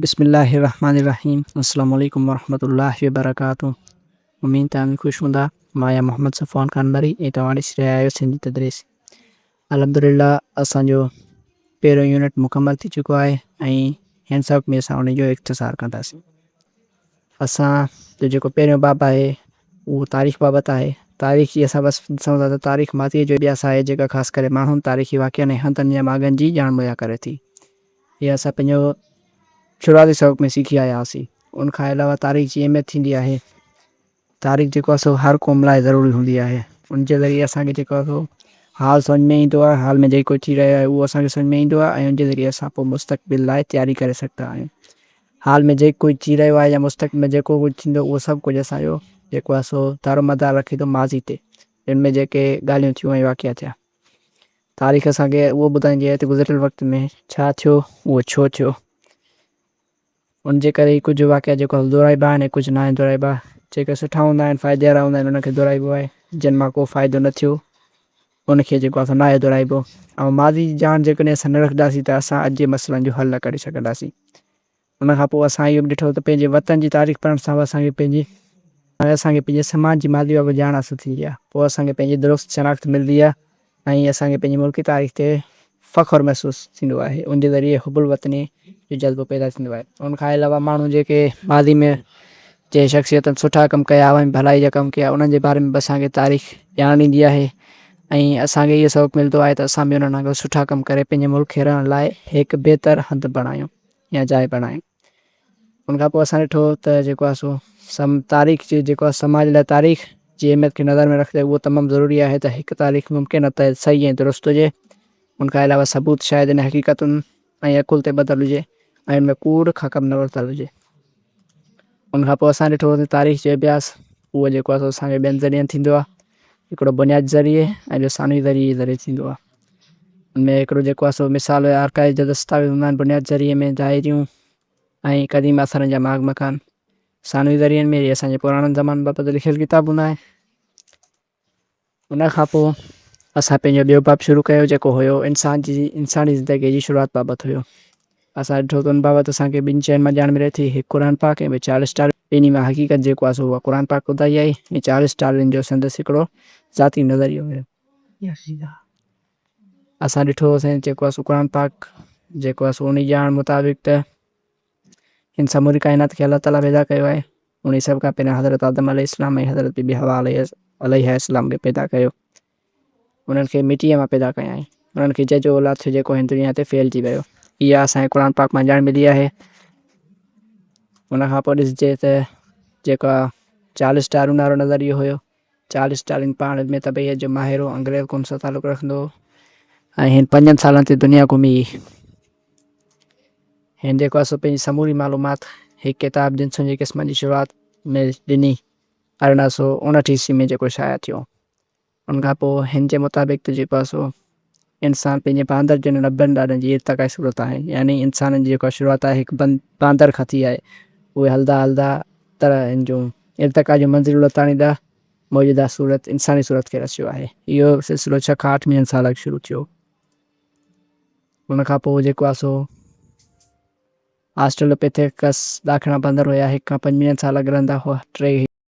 بسم الله الرحمٰن الرحيم السلام عليڪم ورحمة الله وبرڪاته اميد توهان خوش هوندا مان آهيان محمد صفوان قانبري ۽ توهان ڏسي رهيا آهيو سنڌي تدريس الحمدلله اسان جو پهريون يونٽ مڪمل ٿي چڪو آهي ۽ هن سبق ۾ اسان ان جو اختصار ڪنداسين اسان جو جيڪو پهريون باب آهي اهو تاريخ بابت آهي. تاريخ جي اسان وصف ڏسون ٿا ته تاريخ ماضيء جو ڏيس آهي جيڪا خاص ڪري ماڻهن، تاريخي واقعن ۽ هنڌن يا ماڳن جي ڄاڻ مهيا ڪري ٿي. اها اسان پنهنجو شروعاتي سبق ۾ سکي آيا هئاسين. ان کان علاوه تاريخ جي اهميت ٿيندي آهي. تاريخ جيڪو آهي سو هر قوم لاء ضروري هوندي آهي ان جي ذريعي اسان کي جيڪو آهي سو حال سمجھ ۾ ايندو آهي حال ۾ جيڪو ٿي رهيو آهي اهو اسان کي سمجھ ۾ ايندو آهي ۽ ان جي ذريعي اسان پوء مستقبل لاء تياري ڪري سگھدا آهيون حال ۾ جيڪ ڪجھ ٿي رهيو آهي يا مستقبل ۾ جيڪو ڪجھ ٿيندو اهو سڀ ڪجھ اسان جو جيڪو آهي سو دارو مدار رکي ٿو ماضي تي جن ۾ جيڪي ڳالهيون ٿيون ۽ واقعا ٿيا تاريخ اسان کي اهو ٻڌائيندي آهي ته گذريل وقت ۾ ڇا ٿيو اهو ڇو ٿيو. ان جي ڪري هي ڪجهه واقعا جيڪو هل دهرائبا آهن ۽ ڪجهه ناهن دهرائبا. جيڪي سٺا هوندا آهن، فائدي وارا هوندا آهن، انهن کي دهرائبو آهي. جن مان ڪو فائدو نه ٿيو، ان کي جيڪو آهي سو ناهي دهرائبو. ۽ ماضي جي ڄاڻ جيڪڏهن اسان نه رکنداسين ته اسان اڄ جي مسئلن جو حل نه ڪڍي سگهنداسين. ان کان پوء اسان اهو به ڏٺو ته پنهنجي وطن جي تاريخ پڙهڻ سان به اسان کي پنهنجي. اسان کي پنهنجي سماج جي ماضي بابت ڄاڻ حاصل ٿيندي آهي. پوء اسان کي پنهنجي درست شناخت ملندي آهي. ائين اسان کي پنهنجي ملڪي تاريخ تي فخر محسوس ٿيندو آهي ان جي ذريعي حب الوطني جو جذبو پيدا ٿيندو آهي ان کان علاوه ماڻهو جيڪي ماضي ۾ جنهن شخصيتن سٺا ڪم ڪيا عوامي ڀلائي جا ڪم ڪيا انهن جي باري ۾ به اسان کي تاريخ ڄاڻ ڏيندي آهي ۽ اسان کي اهو سبق ملندو آهي ته اسان به انهن وانگر سٺا ڪم ڪري پنهنجي ملڪ کي رهڻ لاء هڪ بهتر هنڌ بڻايون يا جاء بڻايون. ان کان پوء اسان ڏٺو ته جيڪو آهي سو تاريخ جي جيڪو آهي سماج لاء تاريخ جي اهميت کي نظر ۾ رکندي اهو تمام ضروري آهي ته هڪ تاريخ ممڪن نه ته صحيح ۽ درست هجي ان کان علاوه ثبوت شايد ان حقيقتن ۽ عقل تي ٻڌل هجي ۽ ان ۾ ڪوڙ کان ڪم نه ورتل هجي ان کان پوء اسان ڏٺو ته تاريخ جو اڀياس اهو جيڪو آهي سو اسان کي ٻين ذريعن ٿيندو آهي هڪڙو بنياد ذريعي ۽ ٻيو ثانوي ذريعي جي ذريعي ٿيندو آهي ان ۾ هڪڙو جيڪو آهي سو مثال آرڪائيو جا دستاويز هوندا آهن بنياد ذريعي ۾ دائريون ۽ قديم آثارن جا ماڳ مڪان، ثانوي ذريعن ۾ اسان جي پراڻن زمانن بابت لکيل ڪتاب هوندا آهن. ان کان پوء اسان پنهنجو ٻيو باب شروع ڪيو جيڪو هيو انسان جي انساني زندگيء جي شروعات بابت هيو. اسان ڏٺو ته ان بابت اسان کي ٻن شين مان ڄاڻ ملي ٿي، هڪ قرآن پاڪ ۽ ٻيو چارلس ڊارون. ٻنهي مان حقيقت جيڪو آهي سو اها قرآن پاڪ ٻڌائي آهي ۽ چارلس ڊارون جو سندس هڪڙو ذاتي نظريو هيو. اسان ڏٺو هو سائين جيڪو اسو قرآن پاڪ جيڪو اسو انهي ڄاڻ مطابق ته هن سموري ڪائنات کي الله تعالي پيدا ڪيو آهي انهي سڀ کان پهريان حضرت آدم عليه السلام ۽ حضرت بي بي حوا عليها السلام کي پيدا ڪيو انهن کي مٽيء مان پيدا ڪيائين انهن کي ججهو اولاد ٿيو جيڪو هن دنيا تي ڦهلجي ويو اها اسان کي قرآن پاڪ مان ڄاڻ ملي آهي ان کان پوء ڏسجي ته جيڪا چارلس ڊارون وارو نظريو هيو چارلس ڊارون پاڻ علم طبعيت جو ماهر هو، انگريز قوم سان تعلق رکندو هو ۽ هن پنجن سالن تي دنيا گهمي هن جيڪو اصل پنهنجي سموري معلومات هڪ ڪتاب جنسن جي قسمن جي شروعات ۾ ڏني ارڙهن سؤ اڻهٺ عيسوي ۾ جيڪو شايع ٿيو ان کان پوء هن جي مطابق ته جيڪو اصو انسان پنهنجي باندر جن ڏڀن ڏاڏن جي ارتقائي صورت آهن، يعني انسانن جي جيڪا شروعات آهي هڪ بند باندر کان ٿي آهي، اهي هلدا هلدا تر هن جون ارتقا جون منزلون لتاڻي ڏاه موجوده صورت انساني صورت کي رسيو آهي. اهو سلسلو ڇهه کان آٺ ملين سال اڳ شروع ٿيو. ان کان پوء جيڪو آهي سو آسٽرلوپيٿيڪس ڏاکڻا باندر هيا هڪ کان پنج ملين سال اڳ رهندا هئا، ٽي هي.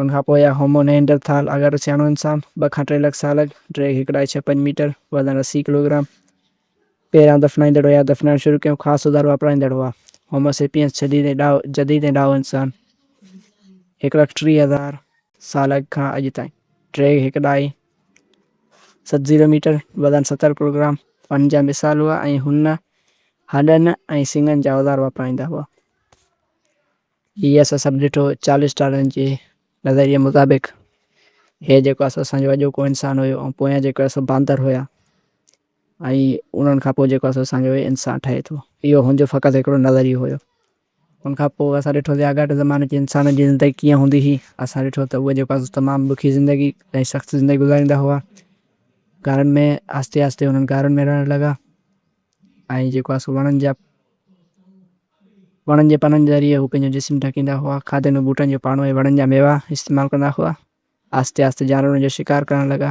ان کان پوء هومو نئينڊر ٿال اگهاڙو سياڻو انسان، ٻه کان ٽي لک سال اڳ، ڊيگهه هڪڙهائي ڇهه پنج ميٽر، وزن اسي ڪلوگرام، پيران دفنائيندڙ هيا دفنائڻ شروع ڪيو خاص اوزار واپرائيندڙ هئا هومو سيپيئنس جديد ۽ ڏاهو جديد ۽ ڏاهو انسان هڪ لک ٽيهه هزار سال اڳ کان اڄ تائين ڊيگهه هڪڙهائي ست زيرو ميٽر، وزن ستر ڪلوگرام، ان جا مثال هئا ۽ هن هڏن ۽ سڱن جا اوزار واپرائيندا هئا. هي اسان سڀ ڏٺو چارلس ڊارون جي نظريي مطابق هي جيڪو آسو اسان جو اڄوڪو انسان هيو ۽ پويان جيڪو آسو باندر هيا ۽ انهن کان پوء جيڪو آسو اسان جو هي انسان ٺهي ٿو اهو هن جو فقط هڪڙو نظريو هيو ان کان پوء اسان ڏٺو ته آڳاٽي زماني جي انسانن جي زندگي ڪيئن هوندي هئي اسان ڏٺو ته اهي جيڪو آسو تمام ڏکي زندگي ۽ سخت زندگي گذاريندا هئا غارن ۾ آهستي آهستي انهن غارن ۾ رهڻ لڳا. ۽ جيڪو آهي سو وڻن جا وڻن جي پنن ذريعي هو پنهنجو جسم ڍڪيندا هئا. کاڌي ۾ ٻوٽن جو پاڻو ۽ وڻن جا ميوا استعمال ڪندا هئا. آهستي آهستي جانورن جو شڪار ڪرڻ لڳا.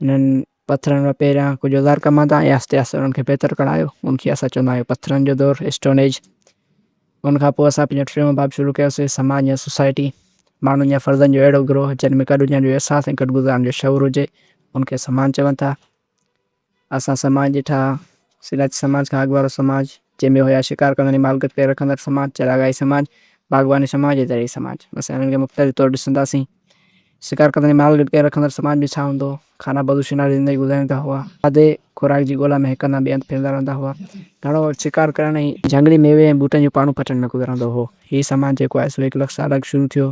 انهن پٿرن مان پهريان ڪجهه اوزار ڪماندا ۽ آهستي آهستي انهن کي بهتر ڪڻايو. ان کي اسان چوندا آهيون پٿرن جو دور، Stone Age. ان کان پوء اسان پنهنجو ٽيون باب شروع ڪيوسي، سماج يا سوسائٽي. ماڻهن يا فردن جو اهڙو گروهه جن ۾ گڏ هجڻ جو احساس ۽ گڏ گذرڻ جو شعور هجي، ان کي سماج چون ٿا. اسان سماج ڏٺا، سراج سماج کان اڳ وارو سماج، جنهن ۾ هيا شڪار ڪندڙ ۽ مالڪيت پيل رکندڙ سماج، چراگاهي سماج، باغباني سماج ۽ زرعي سماج. اسين انهن کي مختلف طور ڏسنداسين. شڪار ڪندڙ ۽ مالڪيت پيل رکندڙ سماج ۾ ڇا هوندو هو؟ کانا بدو شناڙي زندگي گذاريندا هئا. کاڌي خوراڪ جي ڳولا ۾ هڪ هنڌان ٻئي هنڌ ڦرندا رهندا هئا. گهڻو وقت شڪار ڪرڻ ۽ جهنگلي ميوي ۽ ٻوٽن جون پاڙون پٽڻ ۾ گذرندو هو. هي سماج جيڪو آهي سو هڪ لک سال اڳ شروع ٿيو.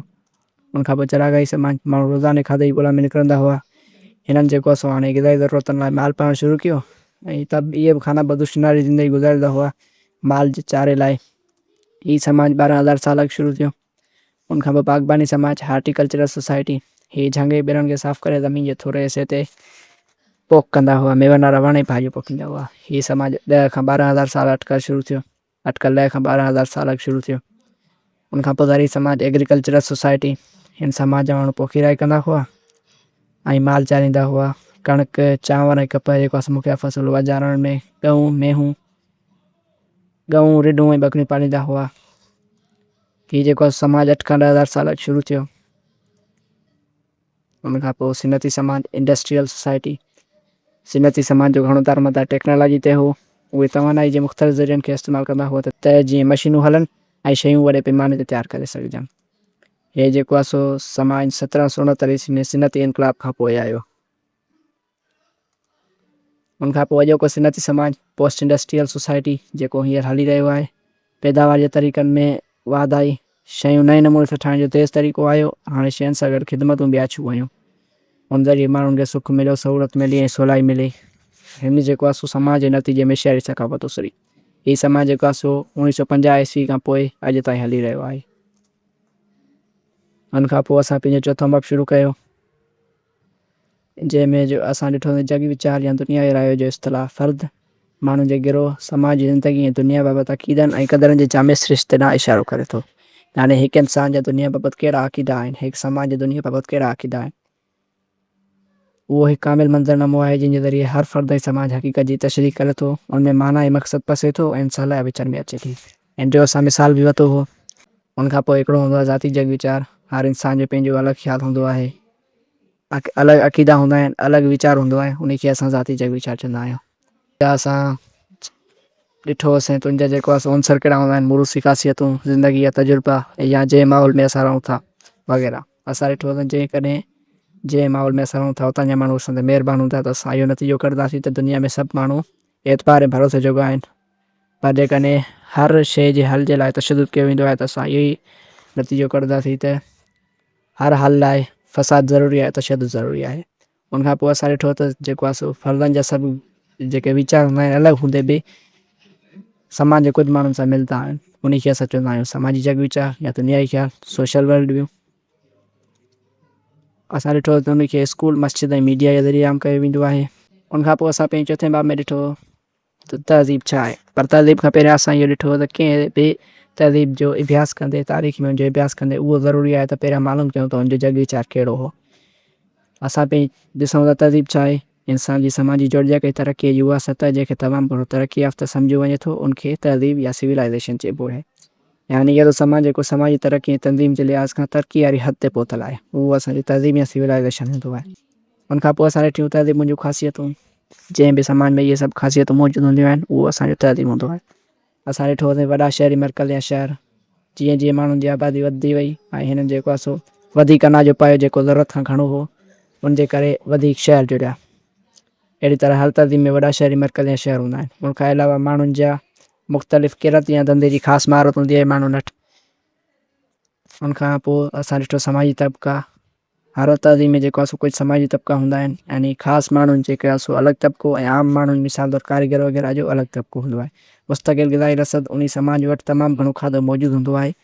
ان کان پوء چراگاهي سماج جا ماڻهو روزاني کاڌي جي ڳولا ۾ نڪرندا هئا. هنن جيڪو سو هاڻي غذائي ضرورتن لاء مال پالڻ شروع ڪيو ۽ ته به اهي به خانه بدوش ناري زندگي گذاريندا هئا مال جي چاري لاء. هي سماج ٻارهن هزار سال اڳ شروع ٿيو. ان کان پوء باغباني سماج، هارٽي ڪلچرل سوسائٽي، هي جهنگ جي ٻرن کي صاف ڪري زمين جي ٿوري حصي تي پوک ڪندا هئا. ميون وارا وڻ ۽ ڀاڄيون پوکيندا هئا. هي سماج ڏهه کان ٻارهن هزار سال اٽڪل شروع ٿيو. اٽڪل ڏهه کان ٻارهن هزار سال اڳ شروع ٿيو. ان کان پوء زرعي سماج، Agricultural Society، هن سماج جا ماڻهو پوکي راهي ڪندا هئا ۽ مال چاريندا هئا. ڪڻڪ، چانور ۽ ڪپهه جيڪو اسان مکيه فصل هئا، جانورن ۾ ڳئون، مينهون، ڳئون، رڍون ۽ ٻڪريون پاليندا هئا. هي جيڪو سماج اٺ کان ڏهه هزار سال اڳ شروع ٿيو. ان کان پوء صنعتي سماج، Industrial Society، صنعتي سماج جو گهڻو دارمدار ٽيڪنالاجي تي هو. اهي توانائي جي مختلف ذريعن کي استعمال ڪندا هئا ته جيئن مشينون هلن ۽ شيون وڏي پيماني تي تيار ڪري سگهجن. هي جيڪو آهي سو سماج سترهن سو اڻتاليهه عيسوي ۾ صنعتي انقلاب کان پوء آيو. ان کان پوء اڄوڪو صنعتي سماج، پوسٽ انڊسٽريل سوسائٽي، جيڪو هينئر هلي رهيو آهي، پيداوار جي طريقن ۾ واڌاري، شيون نئين نموني سان ٺاهڻ جو تيز طريقو آيو، هاڻي شين سان گڏ خدمتون به آڇيون ويون. ان ذريعي ماڻهن کي سک مليو، سهولت ملي ۽ سولائي ملي. هن جيڪو آهي سو سماج جي نتيجي ۾ شهري ثقافت اسري. هي سماج جيڪو آهي سو اوڻيهه سؤ پنجاهه عيسوي کان پوء اڄ تائين هلي رهيو آهي. ان کان پوء اسان پنهنجو چوٿون باب شروع ڪيو. جنهن ۾ جو اسان ڏٺو ته جڳ ويچار يا دنيا جي رايو جو اصطلاح فرد، ماڻهن جي گروهه، سماج جي زندگي ۽ دنيا بابت عقيدن ۽ قدرن جي جامع سرشتي ڏانهن اشارو ڪري ٿو. يعني هڪ انسان جا دنيا بابت ڪهڙا عقيدا آهن، هڪ سماج جا دنيا بابت ڪهڙا عقيدا آهن، اهو هڪ ڪامل منظرنامو آهي، جنهن جي ذريعي هر فرد ۽ سماج حقيقت جي تشريح ڪري ٿو، ان ۾ معنيٰ ۽ مقصد پسي ٿو ۽ انسان لاء وچن ۾ اچي ٿي. هن جو اسان مثال به ورتو هو. ان کان پوء هڪڙو هوندو آهي ذاتي جڳ ويچار. هر انسان جو پنهنجو الڳ خيال هوندو آهي. الڳ عقيدا هوندا آهن، الڳ ويچار هوندو آهي، انهي کي اسان ذاتي جڳ ويچار چوندا آهيون. جا اسان ڏٺو هوسين ته ان جا جيڪو آهي سو عنصر ڪهڙا هوندا آهن، موروثي خاصيتون، زندگي جا تجربا ۽ يا جنهن ماحول ۾ اسان رهون ٿا وغيره. اسان ڏٺو هوسين جيڪڏهن جنهن ماحول ۾ اسان رهون ٿا اتان جا ماڻهو اسان تي مهربان هوندا ته اسان اهو نتيجو ڪڍنداسين ته دنيا ۾ سڀ ماڻهو اعتبار ۽ ڀروسي جوڳا آهن. پر جيڪڏهن هر شيء جي حل جي لاء تشدد ڪيو ويندو آهي ته اسان اهو ئي نتيجو ڪڍنداسين ته هر حل لاء فساد ضروري آهي، تشدد ضروري آهي. ان کان پوء اسان ڏٺو ته جيڪو آهي سو فردن جا سڀ جيڪي ويچار هوندا آهن الڳ هوندي به سماج جي ڪجهه ماڻهن سان ملندا آهن، انهي کي اسان چوندا آهيون سماجي جڳ ويچار يا ته نيائي خيال، سوشل ورلڊ ويو. اسان ڏٺو ته انهي کي اسڪول، مسجد ۽ ميڊيا جي ذريعي عام ڪيو ويندو آهي. ان کان پوء اسان پنهنجي چوٿين باب ۾ ڏٺو. ته تهذيب ڇا آهي؟ پر تهذيب کان پهريان اسان اهو ڏٺو ته ڪنهن به تهذيب جو اڀياس ڪندي، تاريخ ۾ ان جو اڀياس ڪندي اهو ضروري آهي ته پهريان معلوم ڪيون ته ان جو جڳ ويچار ڪهڙو هو. اسان پئي ڏسون ته تهذيب ڇا آهي؟ انسان جي سماجي جوڙجڪ ۽ ترقيء جي اها سطح جنهن کي تمام گهڻو ترقي يافته سمجهيو وڃي ٿو، ان کي تهذيب يا سويلائيزيشن چئبو آهي. يعني اهڙو سماج جيڪو سماجي ترقي ۽ تنظيم جي لحاظ کان ترقي واري حد تي پهتل آهي، اهو اسان جو تهذيب يا سويلائيزيشن هوندو آهي. ان کان پوء اسان ڏٺيون تهذيبن جون خاصيتون. جنهن به سماج ۾ اهي سڀ خاصيتون موجود هونديون آهن، اهو اسان جو تهذيب هوندو آهي. اسان ڏٺو ته وڏا شهري مرڪز يا شهر، جيئن جيئن ماڻهن جي آبادي وڌندي وئي ۽ هنن جيڪو آهي سو وڌيڪ اناج جو پايو جيڪو ضرورت کان گهڻو هو، ان جي ڪري وڌيڪ شهر جڙيا. اهڙي طرح هر تهذيب ۾ وڏا شهري مرڪز يا شهر هوندا آهن. ان کان علاوه ماڻهن جا مختلف ڪرت يا ڌنڌي جي خاص مهارت هوندي آهي ماڻهن وٽ. ان کان پوء اسان ڏٺو سماجي طبقا. هر تهذيب ۾ جيڪو آسو ڪجهه سماجي طبقا هوندا آهن يعني خاص ماڻهن جيڪي آسو الڳ طبقو ۽ عام ماڻهن مثال طور ڪاريگر وغيره جو الڳ طبقو هوندو آهي مستقل غذائي رسد انهي سماج وٽ تمام گهڻو کاڌو موجود هوندو آهي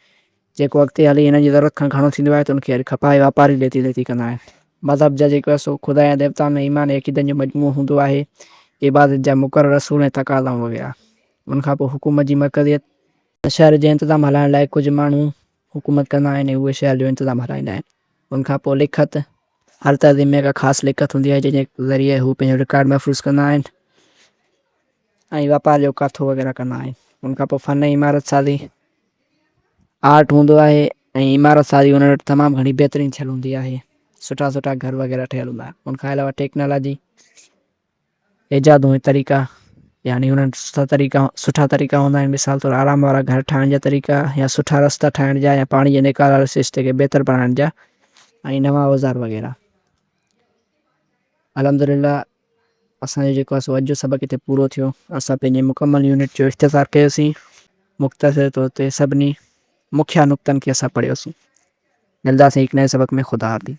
جيڪو اڳتي هلي هنن جي ضرورت کان گهڻو ٿيندو آهي ته ان کي اڄ کپائي واپاري ڏيتي ليتي ڪندا آهن مذهب جا جيڪي آسو خدا يا ديوتائن ۾ ايمان ۽ عقيدن جو مجموعو هوندو آهي عبادت جا مقرر اصول ۽ تقاضائون وغيره ان کان پوء حڪومت جي مرڪزيت شهر جي انتظام هلائڻ لاء ڪجهه ماڻهو حڪومت ڪندا آهن ۽ اهي شهر جو انتظام هلائيندا آهن. ان کان پوء لکت، هر تنظيم ۾ ڪا خاص لکت هوندي آهي، جنهن جي ذريعي هو پنهنجو رڪارڊ محفوظ ڪندا آهن ۽ واپار جو ڪاٿو وغيره ڪندا آهن. ان کان پوء فن ۽ عمارت سازي، Art، هوندو آهي ۽ عمارت سازي انهن وٽ تمام گهڻي بهترين ٿيل هوندي آهي. سٺا سٺا گهر وغيره ٺهيل هوندا آهن. ان کان علاوه ٽيڪنالاجي. ايجادون ۽ طريقا، يعني انهن سٺا طريقا سٺا طريقا هوندا آهن، مثال طور آرام وارا گهر ٺاهڻ جا طريقا يا سٺا رستا ٺاهڻ جا يا پاڻي جي نيڪال واري سرشتي کي بهتر بڻائڻ جا ۽ نوان اوزار وغيره. الحمدلله اسان جو جيڪو آهي سو اڄ جو سبق هتي پورو ٿيو. اسان پنهنجي مڪمل يونٽ جو اختصار ڪيوسين. مختصر طور تي سڀني مکيه نقطن کي اسان پڙهيوسين. ملداسين هڪ نئين سبق ۾ خدا حافظ.